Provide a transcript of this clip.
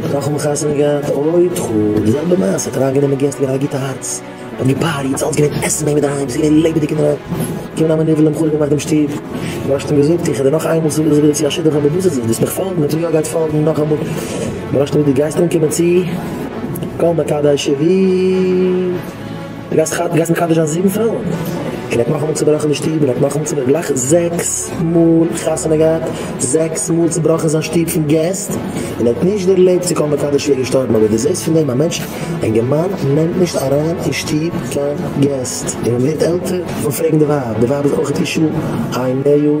דאך האבן חתונה געהאט אוי ת ח, די זעלבע מעשה, האט אריין גענומען געסט מיט א גוטע הארץ, האט געפאריעט, ס'אלץ געווען עסן ביי אים אינדערהיים, ס'איז געווען לעבעדיג און רויעך, געקומען א מנוול און חרוב געמאכט דעם שטוב, מ'האט אים געזאגט איך הער דיר נאך איינמאל צו ווילסט צו א שידוך אדער וואס איז עס, ווילסט מיך פאלגן, און טו יא גייט פאלגן נאכאמאל, מ'האט אים געזאגט די גייסט אנקומען צו כל מקדשי ווי. די גייסט ח ו גייסט מקדש זיין זיבן פרויען? און ער האט נאכאמאל צובראכן די שטוב און ער האט נאכאמאל צובראכן גלייך זעקס מאל חתונה געהאט זעקס מאל צובראכן זיין שטוב פון געסט און ער האט נישט דערלעבט צו קול מקדש ווי ער איז געשטארבן אבער די זעהסט פון דעם א מענטש א אינגערמאן נעמט נישט אריין אין שטוב קיין געסט און מען ווערט עלטער פון פרעגן די ווייב די ווייב איז אויך אישה איי נעו.